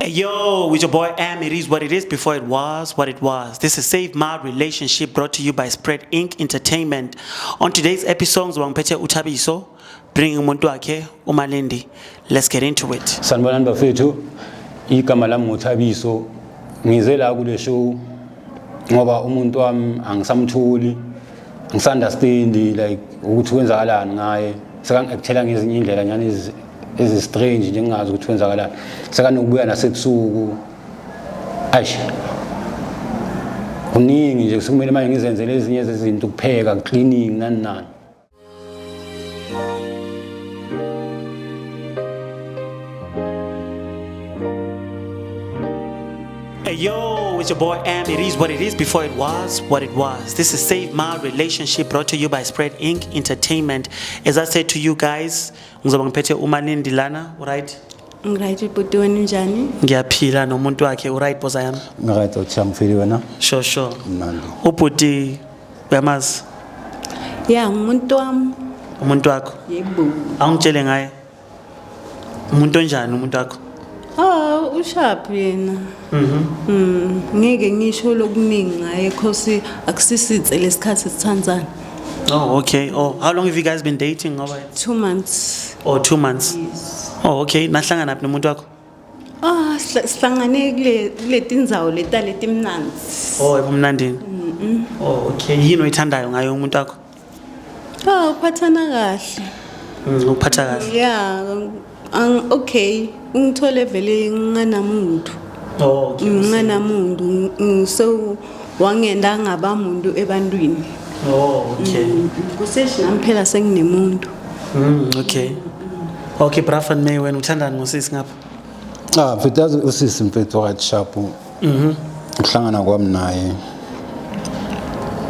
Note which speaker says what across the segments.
Speaker 1: Hey, yo, with your boy M, it is what it is before it was what it was. This is Save My Relationship brought to you by Spread Inc. Entertainment. On today's episode, Wangpete Utabiso, bringing umuntu wakhe uMalindi. Let's get into it. Sanibonani bafethu,
Speaker 2: igama lami nguThabiso. Ngize la kule show ngoba umuntu wami angisamtholi. ngisunderstandi like ukuthi kwenzakalani ngaye sekangi-actela ngezinye iy'ndlela nyani ezistrange nje ngingazi ukuthi kwenzakalani sekanokubuya nasebusuku ayish kuningi nje sekumele manje ngizenzele ezinye zezinto ukupheka cleaning nani nani
Speaker 1: Hey yo, it's your boy Am. It is what it is before it was what it was. This is Save My Relationship brought to you by Spread Inc. Entertainment. As I said to you guys, ngizoba ngiphethe umanindi lana, right? Ngirayithi ubhuti
Speaker 3: wenu njani? Ngiyaphila nomuntu
Speaker 1: wakhe, uright boza yami? Ngirayithi uthi angifili
Speaker 2: wena? Sure sure. Mnandi. Ubhuti
Speaker 1: Uyamazi?
Speaker 3: Ya, umuntu wami. Umuntu wakho?
Speaker 1: Yebo. Awungitshele
Speaker 3: ngaye.
Speaker 1: Umuntu onjani umuntu wakho? Ah,
Speaker 3: ushaphi yena. Mhm. Mm, ngeke ngisho lokuningi ngaye because akusisitse lesikhathi sithandzana. Oh, okay.
Speaker 1: Oh, how long have you guys been dating? Ngoba 2 months.
Speaker 3: Oh, 2 months. Yes.
Speaker 1: Oh, okay.
Speaker 3: Nahlangana
Speaker 1: phi nomuntu wakho? Ah, sihla- sihlangane
Speaker 3: kule- kuleti ndzawo leta letimnandzi Oh,
Speaker 1: ebumnandini. Oh, okay. Yini oyithandayo ngayo umuntu wakho? ah
Speaker 3: uphathana kahle Mm, Ukuphatha kahle. ya
Speaker 1: ang-
Speaker 3: okay ungithole vele nginganamuntu Oh, okay.
Speaker 1: nginganamuntu ngi-
Speaker 3: ngi- so wangenda ngaba muntu ebantwini oh okay
Speaker 1: mm, kuseshi nami
Speaker 3: phela senginemuntu mm
Speaker 1: okay okay brafan may wena uthandani ngosisi ngapha ah mfethu yazi usisi
Speaker 2: mfethu wakati sharp mhm ukuhlangana kwami naye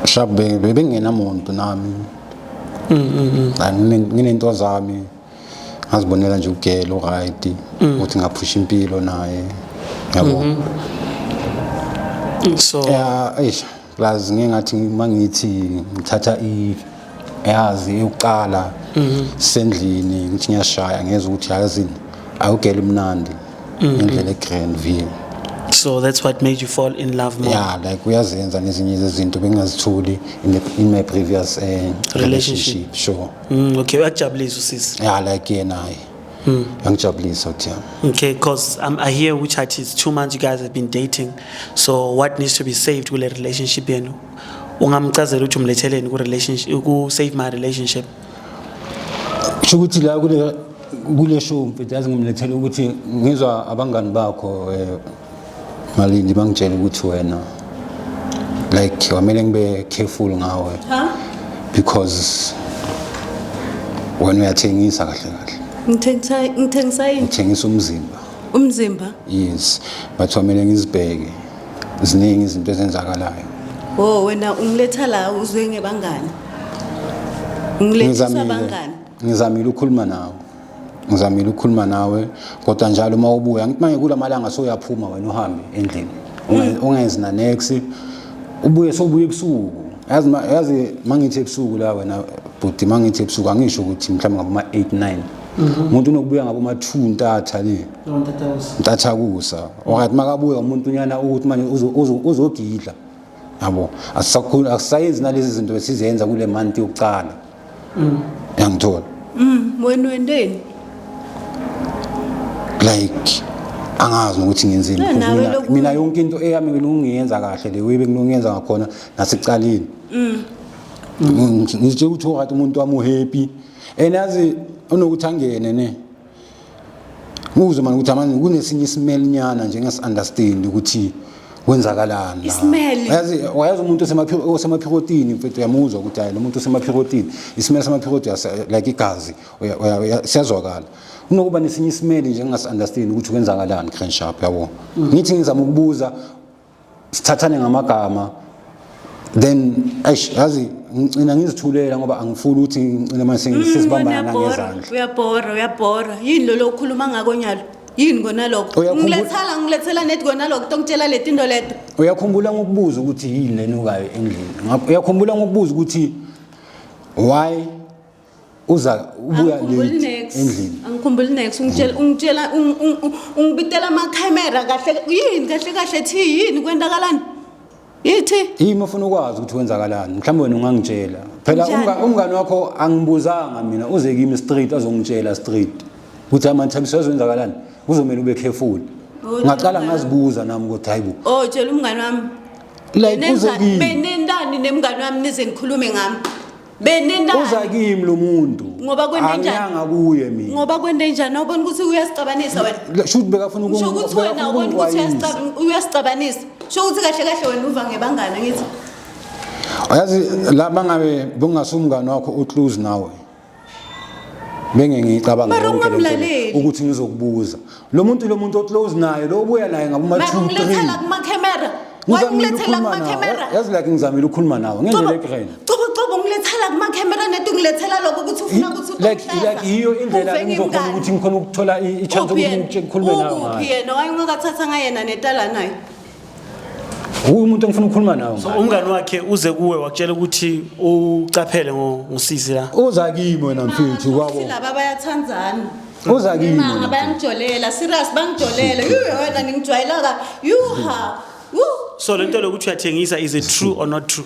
Speaker 2: sharp bengenamuntu nami mhm, mhm, mhm. nginento zami ngazibonela nje ugela uright mm. ukuthi ngaphusha impilo naye yabo mm
Speaker 1: -hmm. so yeah eish plus
Speaker 2: ngingathi mangithi ngithatha i yazi eyokuqala mm -hmm. sendlini ngithi ngiyashaya ngeza ukuthi yazi awugela umnandi mm -hmm. indlela egrand view so that's
Speaker 1: what made you fall in love more yeah like uyazenza
Speaker 2: nezinye izinto bengingazitholi in, in my previous uh, relationship. relationship sure Mm, okay, uyakujabulisa
Speaker 1: usisi. Yeah, like yena hayi.
Speaker 2: Mm. Angijabulisa ukuthi yami. Okay, because um,
Speaker 1: I hear which at is two months you guys have been dating. So what needs to be saved kule relationship yenu? Ungamchazela ukuthi umletheleni ku relationship ku save my relationship. Kusho
Speaker 2: ukuthi la kule kule show mfethu yazi ngimlethela ukuthi ngizwa abangani bakho eh Malindi bangitshela ukuthi wena like wamele ngibe careful ngawe because wena uyathengisa kahle kahle Ngithengisa ngithengisa yini? uthengisa umzimba Umzimba.
Speaker 3: yes
Speaker 2: but wamele ngizibheke ziningi izinto ezenzakalayo Oh wena
Speaker 3: ungiletha la uzwe ngebangani? Ungilethisa ngizamile bangani? ngizamile ukukhuluma
Speaker 2: nawe ngizamile ukukhuluma nawe kodwa njalo uma ubuya ngithi manje kula malanga soyaphuma wena uhambe endlini mm. ungenzi na next ubuye sobuye ebusuku yazi yazi mangithi ebusuku la wena bhuti mangithi ebusuku angisho ukuthi mhlawumbe ngabo ma 8 9 mhm. umuntu unokubuya ngabo ma 2 ntatha le ntatha kusa okanye makabuya umuntu unyana ukuthi manje uzogidla yabo asisakhulu asisayenzi nalezi zinto esizenza kule month yokuqala mm. yangithola mm,
Speaker 3: wena wendeni
Speaker 2: like angazi ukuthi ngenzeni mina yonke into eyami bengiyenza kahle le webe ngiyenza ngakhona nasicaleni mm. ngitshela ukuthi umuntu wami uhappy and yazi unokuthi angene ne Nguzwe manje ukuthi amanje kunesinye isimelinyana nje ngesi understand ukuthi kwenzakalani. Isimeli. Yazi wayazi umuntu osemaphiko osemaphikotini mfethu uyamuzwa ukuthi hayi lo muntu osemaphikotini. Isimeli semaphikoti like igazi siyazwakala. Unokuba nesinye isimeli nje ngingasi understand ukuthi kwenzakalani Crenshaw yabo. Ngithi ngizama ukubuza sithathane ngamagama then eish yazi ngicina ngizithulela ngoba angifuni ukuthi ngicine manje mm, sesibambana ngezandla uyabhora uyabhora
Speaker 3: yini lo lokhuluma ngako nyalo yini kona lokho ngilethela ngilethela net kona lokho tongitshela letinto leto uyakhumbula ngokubuza
Speaker 2: ukuthi yini lenukayo endlini uyakhumbula ngokubuza ukuthi why uza ubuya late
Speaker 3: endlini angikhumbuli
Speaker 2: next ungitshela
Speaker 3: ungitshela ungibitela ama camera kahle yini kahle kahle thi yini kwenzakalani yithi yimi ufuna ukwazi
Speaker 2: ukuthi kwenzakalani mhlawumbe wena ungangitshela phela umngani wakho angibuzanga mina uze kimi street azongitshela street ukuthi amathabiso azwenzakalani kuzomela ube careful oh, ngaqala ngazibuza nami ukuthi hayibo oh tshela umngani wami
Speaker 3: like uze
Speaker 2: kimi benendani nemngani
Speaker 3: wami nize nikhulume ngami benendaba uza kimi lo
Speaker 2: muntu ngoba kwente njani
Speaker 3: angiyanga kuye mina ngoba
Speaker 2: kwente njani awubona
Speaker 3: ukuthi uyasicabanisa wena shuthi bekafuna ukungu shuthi
Speaker 2: ukuthi wena ubona
Speaker 3: ukuthi uyasicabanisa shuthi ukuthi kahle kahle wena uva ngebangana ngithi ayazi
Speaker 2: la bangabe bungasumngani wakho uclose nawe bengengicabanga ukuthi ngizokubuza lo muntu lo muntu oclose naye lo ubuya naye ngabo ma 2 3 ngilethela kuma camera
Speaker 3: wayengilethela kuma camera yazi like ngizamile ukukhuluma
Speaker 2: nawe ngendlela egreen cobo cobo ngilethela
Speaker 3: kuma camera nethi ngilethela lokho ukuthi ufuna ukuthi like like iyo
Speaker 2: indlela engizokhona ukuthi ngikhona ukuthola i chance ukuthi ngikhulume nawe ngayo yena wayengakathatha
Speaker 3: ngayena netala naye
Speaker 2: Uwe umuntu engifuna ukukhuluma nawe. So umngani wakhe uze
Speaker 1: kuwe wakutshela ukuthi ucaphele ngosisi la. Uza kimi wena
Speaker 2: mfethu kwabo. Silaba bayathandana.
Speaker 3: Uza kimi.
Speaker 2: Mama bayangijolela,
Speaker 3: serious bangijolela. Yuu wena ngingijwayela ka. Yuha. Woo. So
Speaker 1: lento lokuthi uyathengisa is it true or not true?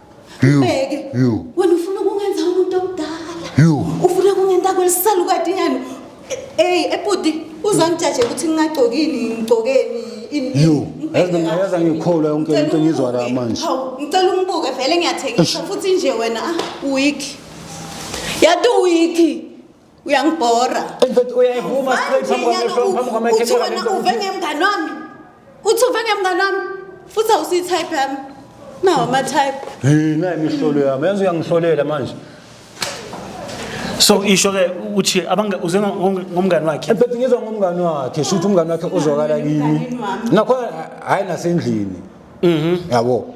Speaker 3: Mbeke. You. Wena ufuna ukungenza umuntu omdala. You. Ufuna ukungenza kwelisala ukadinyana. Hey, ebhuti uzangijaje ukuthi ngingagcokini, ngigcokeni ini. You. Yazi mina yazi
Speaker 2: angikholwa yonke into engizwa la manje. Hawu, ngicela ungibuke
Speaker 3: vele ngiyathengisa futhi nje wena ah, weak. Yadu weak. uyangibhora In fact
Speaker 2: uyayivuma straight phambi kwamehlo
Speaker 3: phambi uthi kwamakhelwane wena lento. uve ngemngane wami uthi uve ngemngane wami futhi awusiyi-type yami nawo ama-type Hey nayi imihlolo
Speaker 2: yami yazi uyangihlolela manje. so
Speaker 1: isho ke ukuthi abanga uze ngo- ngomngani wakhe In fact ngizwa ngomngani
Speaker 2: wakhe shuthi umngani wakhe uzwakala kimi. Nakho hayi nasendlini. Mhm. Yabo.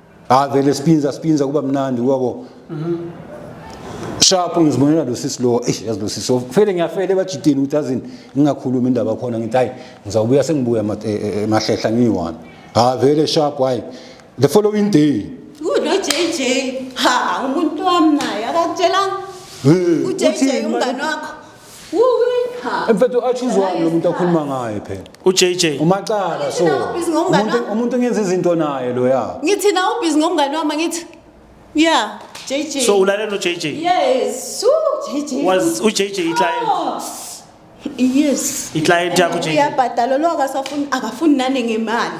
Speaker 2: ha vele spinza spinza kuba mnandi wabo mhm. sharp ngizibonela lo sisi lo eish yazi lo sisi so fele ngiyafele bajitini ukuthi azini ngingakhuluma indaba khona ngithi hayi ngizawubuya sengibuya e, e, emahlehla ngiyi-one ha vele sharp hayi the following day uno jj
Speaker 3: ha umuntu wami naye akakutshelanga ujj umngane wakho
Speaker 2: Mfethu achoose wani lo muntu akhuluma ngaye phela. uJJ Umacala
Speaker 1: so.
Speaker 2: Thina ubhizi ngomngane Umuntu wami. umuntu ngenza izinto naye lo ya. ngithi na ubhizi ngomngane
Speaker 3: wami ngithi ya jj so ulalela uJJ yes Ooh, jj was uJJ
Speaker 1: iclient Oh.
Speaker 3: yes iclient yakho
Speaker 1: uJJ uyabhadala lo akasafuni
Speaker 3: akafuni nane ngemali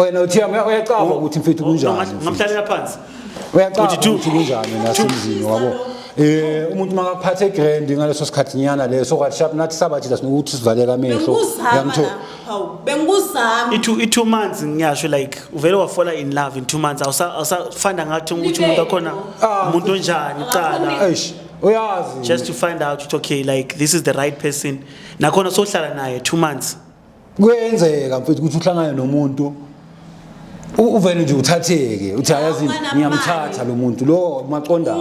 Speaker 1: wena
Speaker 2: uthiya uya- uyacaba ukuthi mfethu kunjani mfethu.
Speaker 1: ngamhlalela
Speaker 2: phansi uyacaba Uthi two. ukuthi kunjani
Speaker 1: nasemzini
Speaker 2: wabo Eh umuntu makaphathe grand ngaleso sikhathi nyana leso kwathi shap nathi sabathi la sinokuthi sivaleka amehlo bengikuzama Uyangitho- la hawu bengikuzama
Speaker 3: i-two i-two months
Speaker 1: ngiyasho like uvele wafola in love in two months awusa- awusafanda ngathi ukuthi umuntu akhona Ah. umuntu onjani kuqala eish uyazi
Speaker 2: just to find out
Speaker 1: ukuthi okay like this is the right person nakhona sohlala naye two months kuyenzeka
Speaker 2: mfethu ukuthi uhlangane nomuntu uvele nje uthatheke uthi ayazi ngiyamthatha lo muntu lo maqondana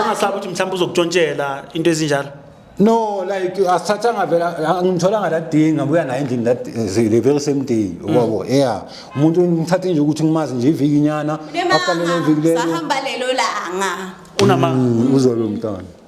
Speaker 2: ungasabi ukuthi
Speaker 1: mhlawumbe uzokutshontshela into ezinjalo no like
Speaker 2: asithathanga vela angimtholanga that day ngabuya naye endlini that eh, the very same day mm. wabo yeah umuntu ngithathe nje ukuthi ngimazi nje iviki nyana after lelo viki lelo sahamba lelo langa
Speaker 3: unamanga mm,
Speaker 1: uzobe umntana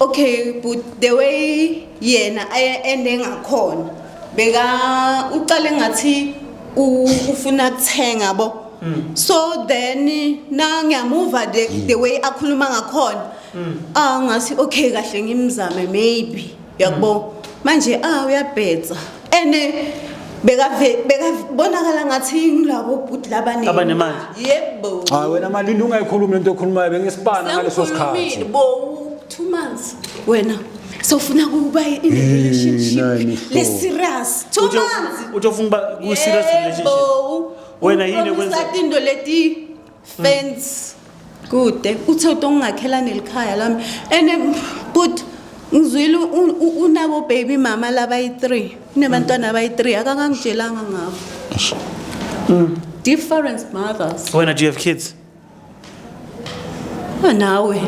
Speaker 1: okay
Speaker 3: but the way yena ende ngakhona beka uqale ngathi ufuna kuthenga bo mm. so then na ngiyamuva the, mm. the way akhuluma ngakhona mm. ah ngathi okay kahle ngimzame maybe yakbo manje ah uyabhetsa and bekabonakala ngathi yilabo bhuti labanemali
Speaker 1: yebo hayi
Speaker 3: wena malindi
Speaker 2: ungayikhulumi lento okhulumayo bengisibana ngaleso sikhathi bo two
Speaker 3: months wena sofuna kuba in a relationship le serious two months utofuna kuba ku
Speaker 1: serious relationship wena yini kwenza into leti
Speaker 3: fence kude uthe utongingakhela nelikhaya lami and um, but ngizwile u- u- unabo baby mama labayi-three unebantwana abayi-three akakangitshelanga ngabo different mothers wena do you have kids Ah, nawe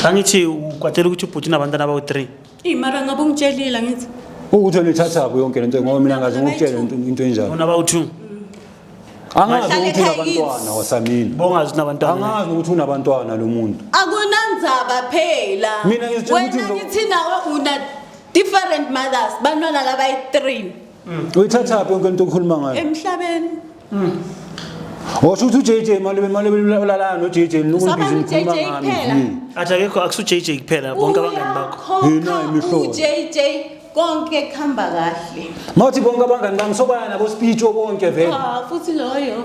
Speaker 1: angithi ukwatela ukuthi ubhuti unabantwana abawu-three Ey mara ngabe
Speaker 3: ungitshelile ngithi ukuthi wena ithatha
Speaker 2: phi yonke lento ngoba mina ngaze ngikutshele into into enjalo bona bawu-two angazi Bahlale ukuthi ekhaya unabantwana wasamini bongazi ukuthi nabantwana
Speaker 1: angazi ukuthi unabantwana
Speaker 2: lo muntu akunandzaba
Speaker 3: phela Mina ngizitshela
Speaker 2: ukuthi wena
Speaker 3: lo- ngithi nawe una different mothers bantwana labayi-three Mm. Uyithathaphi
Speaker 2: yonke into okhuluma ngayo? Emhlabeni.
Speaker 3: Mm.
Speaker 2: Washo ukuthi uJJ mali mali ulalana noJJ nokubhizi ngikhuluma ngami. Mm. Athi akekho akusu
Speaker 1: JJ kuphela bonke abangani bakho. Yina imihlobo.
Speaker 2: UJJ
Speaker 3: konke kuhamba kahle. Mawuthi bonke abangani
Speaker 2: bami sobaya nabo speech obonke vele. Ah futhi loyo.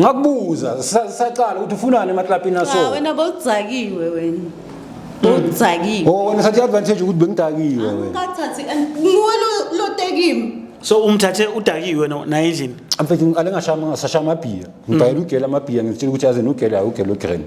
Speaker 2: ngakubuza sa- saqala ukuthi ufunani emaklabhini aso Cha wena bowudzakiwe
Speaker 3: wena. Bowudzakiwe. oh wena sathi
Speaker 2: advantage ukuthi bengidakiwe wena Ukathathi and
Speaker 3: nguwena lotekimi. so umthathe
Speaker 1: udakiwe no- naye endlini mfethu ngiqale ngashama
Speaker 2: ngasashaya amabhiya ngibhayela ugela amabhiya ngitshela ukuthi yazi nugela awugela ugrand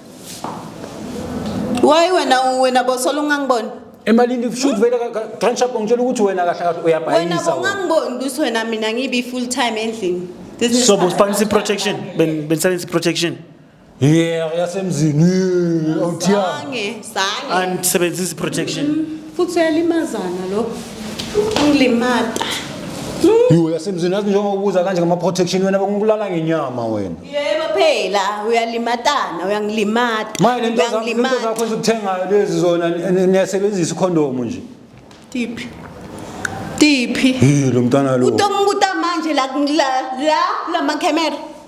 Speaker 3: Why wena wena bosola ungangiboni? emalini kushuthi
Speaker 2: vele transhup ngitshela ukuthi wena kahle kahle Wena uyabhayisa wena. bongangiboni
Speaker 3: ukuthi wena mina ngibi full time endlini. This is so fine. busibangisa
Speaker 1: i-protection Ben- benisebenzisa i-protection Yeah, yasemzini.
Speaker 2: yeah, Awuthiya. Sange, sange.
Speaker 3: andisebenzisa
Speaker 1: i-protection Futhi uyalimazana
Speaker 3: lo. Ungilimata.
Speaker 2: Yho yasemzini yazi njengoba ubuza kanje ngama protection wena bekungikulala ngenyama wena. Yebo phela
Speaker 3: uyalimatana uyangilimata. Manje lento zakho lento uyangilimata.
Speaker 2: zakho ezikuthengayo lezi zona ni- ni- niyasebenzisa ikhondomu nje. Tiphi?
Speaker 3: Tiphi?
Speaker 2: Hey lo mntana lo. Utonguta
Speaker 3: manje la la la kula makhamera.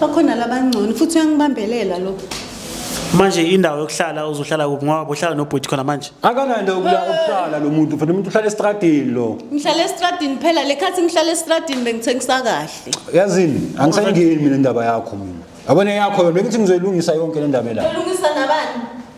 Speaker 3: bakhona labangcono futhi uyangibambelela lo manje
Speaker 1: indawo yokuhlala uzohlala kuphi ngoba bohlala nobhuti khona manje akananda ukuya
Speaker 2: ukuhlala lo muntu fanele umuntu uhlala estradini lo ngihlala estradini
Speaker 3: phela le khathi ngihlala estradini bengithengisa kahle yazini
Speaker 2: angisayingeni mina indaba yakho mina yabona yakho yona bekuthi ngizoyilungisa yonke le ndaba la lungisa nabani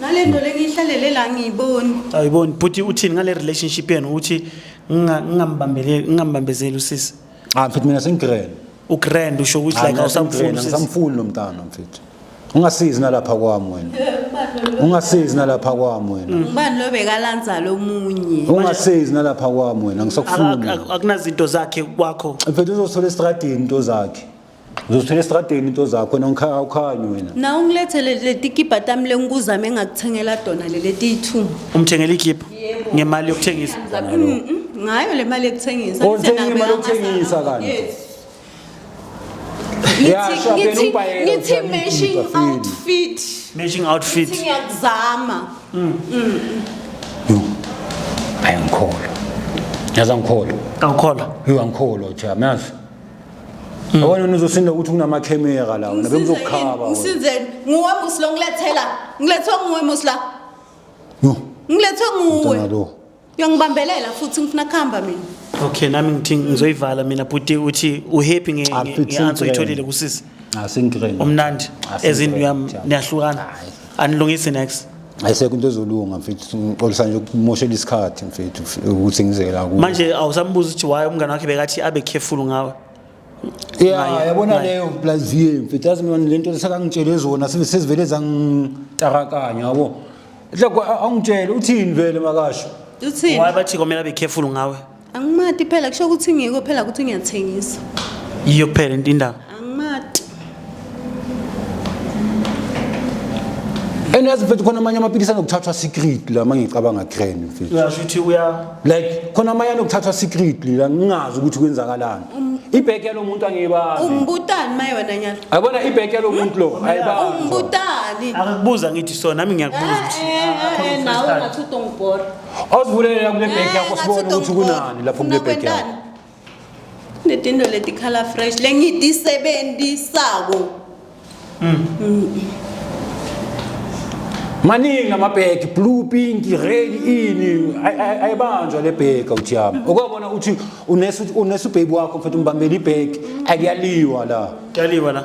Speaker 2: ngale
Speaker 3: nto lengiyihlalele la ngiyiboni ayiboni bhuti
Speaker 1: uthini ngale relationship yenu ukuthi nginga- ngingambambeleli- ngingambambezeli usisi ah mfethu mina
Speaker 2: sengigrand ugrand usho
Speaker 1: ukuthi like awusamfuni usisi ngisamfuni lo mntana
Speaker 2: mfethu ungasizi nalapha kwami wena ungasizi nalapha kwami wena ngubani lo bekalanza
Speaker 3: lomunye ungasizi nalapha
Speaker 2: kwami wena Ak- ngisakufuni ak- akunazinto zakhe
Speaker 1: kwakho mfethu uzothola
Speaker 2: esitradini into zakhe Uzosithola estradeni into zakho nonkhaya ukhanyi wena. Na ungilethele
Speaker 3: letikibha tami lengikuzame ngakuthengela tona lele tiyithuma. Umthengela ikhipha
Speaker 1: ngemali yokuthengisa. Zabe- Mm, mm, Ngayo
Speaker 3: le mali yokuthengisa. Oh, Ngithe uthenge imali nabeka yokuthengisa
Speaker 2: amasa- kanti? Yes.
Speaker 3: Yeah, Ngithi- sure, ngithi- phela ubhayela Ngithi uthenge matching ikhipha, feel. outfit. Matching outfit. Ngithi ngiyakuzama.
Speaker 2: Yo. Ayangikholwa. Yazi angikholwa. Awukholwa. Yo
Speaker 1: angikholwa cha.
Speaker 2: Mayazi. Awona mm. nizosinda ukuthi kunama camera la wena bengizokukhaba. Ngisizeni nguwe
Speaker 3: muslo ngilethela ngilethwe nguwe musla. No. Ngilethwe nguwe. Uyangibambelela futhi ngifuna kuhamba mina. Okay nami ngithi
Speaker 1: ngizoyivala mina bhuti uthi uhappy nge answer uyitholile kusisi.
Speaker 2: umnandi
Speaker 1: ezindlu yam niyahlukana anilungisi next ayisekho into ezolunga
Speaker 2: mfethu ngixolisa nje ukumoshela isikhathi mfethu ukuthi ngizeke la kuwe manje awusambuza ukuthi
Speaker 1: why umngane wakhe bekathi abe careful ngawe yeah
Speaker 2: yabona leyo plus vie mfethu yazi mina lento lesakangitshele zona sezivele zangitarakanya yabo hloko awungitshele uthini vele makasho uthini why bathi
Speaker 3: komela be careful
Speaker 1: ngawe angimati phela
Speaker 3: kusho ukuthi ngiko phela ukuthi ngiyathengisa yiyo kuphela
Speaker 1: into indaba angimati
Speaker 2: and yazi mfethu khona amanye amaphilisi anokuthathwa secretly amanye ngicabanga crane mfethu uyasho ukuthi uya
Speaker 1: like khona amanye
Speaker 2: anokuthathwa secretly la ngingazi ukuthi kwenzakalani ibheki yalo muntu angiyibazi ungibutani maye wena
Speaker 3: nyalo ayibona ibheki yalo
Speaker 2: muntu lo ayibazi ungibutani
Speaker 3: akakubuza ngithi so
Speaker 1: nami ngiyakubuza ukuthi Eh, eh, eh, nawe ungathi
Speaker 3: utongibhora Awusivulele la kule
Speaker 2: bag yakho sibone ukuthi kunani lapho kule bag yakho.
Speaker 3: Netinto letikhala fresh lengitisebenzisako.
Speaker 2: Maningi amabheki blue pink red ini Ay- ay- ayibanjwa le bheki awuthi yami. Okwabona uthi unesu unesu baby wakho mfethu umbambela ibheki akuyaliwa la. Kyaliwa la.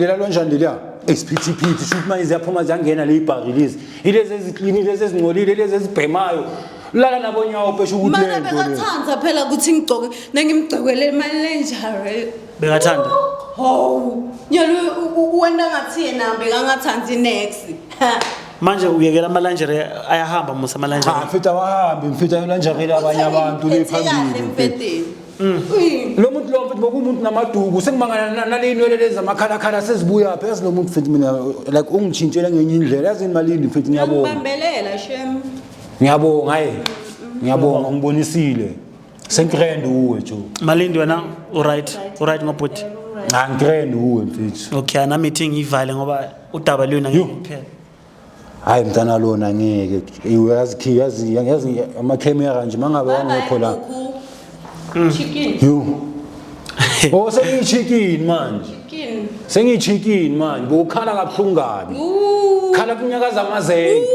Speaker 3: lela
Speaker 2: lonjani leliya isiphithiphithi shuthi manje ziyaphuma ziyangena le ibhari lezi ilezi eziklini lezi ezingcolile lezi ezibhemayo lala nabo nyawo pesho ukuthi le nto bekathanda
Speaker 3: phela ukuthi ngigcoke nengimgcokele imali lenjare bekathanda
Speaker 1: hawu
Speaker 3: nyalo wena ngathi yena bekangathandi next manje
Speaker 1: uyekela amalanjere ayahamba musa amalanjere mfethu awahambi
Speaker 2: mfethu ayolanjekela abanye abantu le phambili lo muntu lo mfethu bokumuntu namaduku sengimangana nalinwele lezi amakhalakhala sezibuya phi yazi lo muntu mfethu mina like ungitshintshele ngenye indlela yazi yini malindi mfethu ngiyabonga Ngibambelela
Speaker 3: shem. ngiyabonga hayi
Speaker 2: ngiyabonga ungibonisile sengitrend uwe jo malindi wena
Speaker 1: uright uright ngobhuti angitrend
Speaker 2: uwe mfethu okay ana meeting
Speaker 1: ivale ngoba udaba luyona Yo. ngeke kuphela hayi
Speaker 2: mntana lona ngeke uyazi yazi yazi amakhemera nje mangabe wangekho la mm.
Speaker 3: chicken
Speaker 2: yo oh sengi chicken manje chicken sengi
Speaker 3: chicken
Speaker 2: manje bokhala kabuhlungu kabi khala kunyakaza amazenge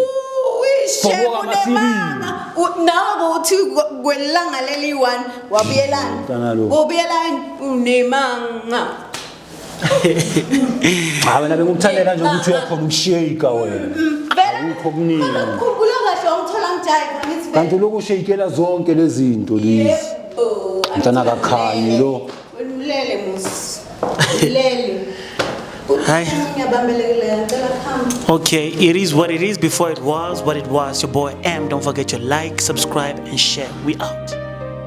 Speaker 2: Shebo
Speaker 3: nemama nawo uthi kwelanga leli one wabuyelana ubuyelana unemanga
Speaker 2: Cha wena bengikuthandela nje ukuthi uyakhona ukushake wena. Akukho kuningi. Khumbula kahle wangithola
Speaker 3: ngijayiva ngithi vele. Kanti lokhu ushayikela
Speaker 2: zonke lezi zinto lezi. Yebo. Mntana akakhanyi lo. Ulele musi.
Speaker 3: Ulele.
Speaker 1: Hayi. Uthini abambelekile ngicela phambi. Okay, it is what it is before it was what it was. Your boy M. Don't forget to like, subscribe, and share. We out.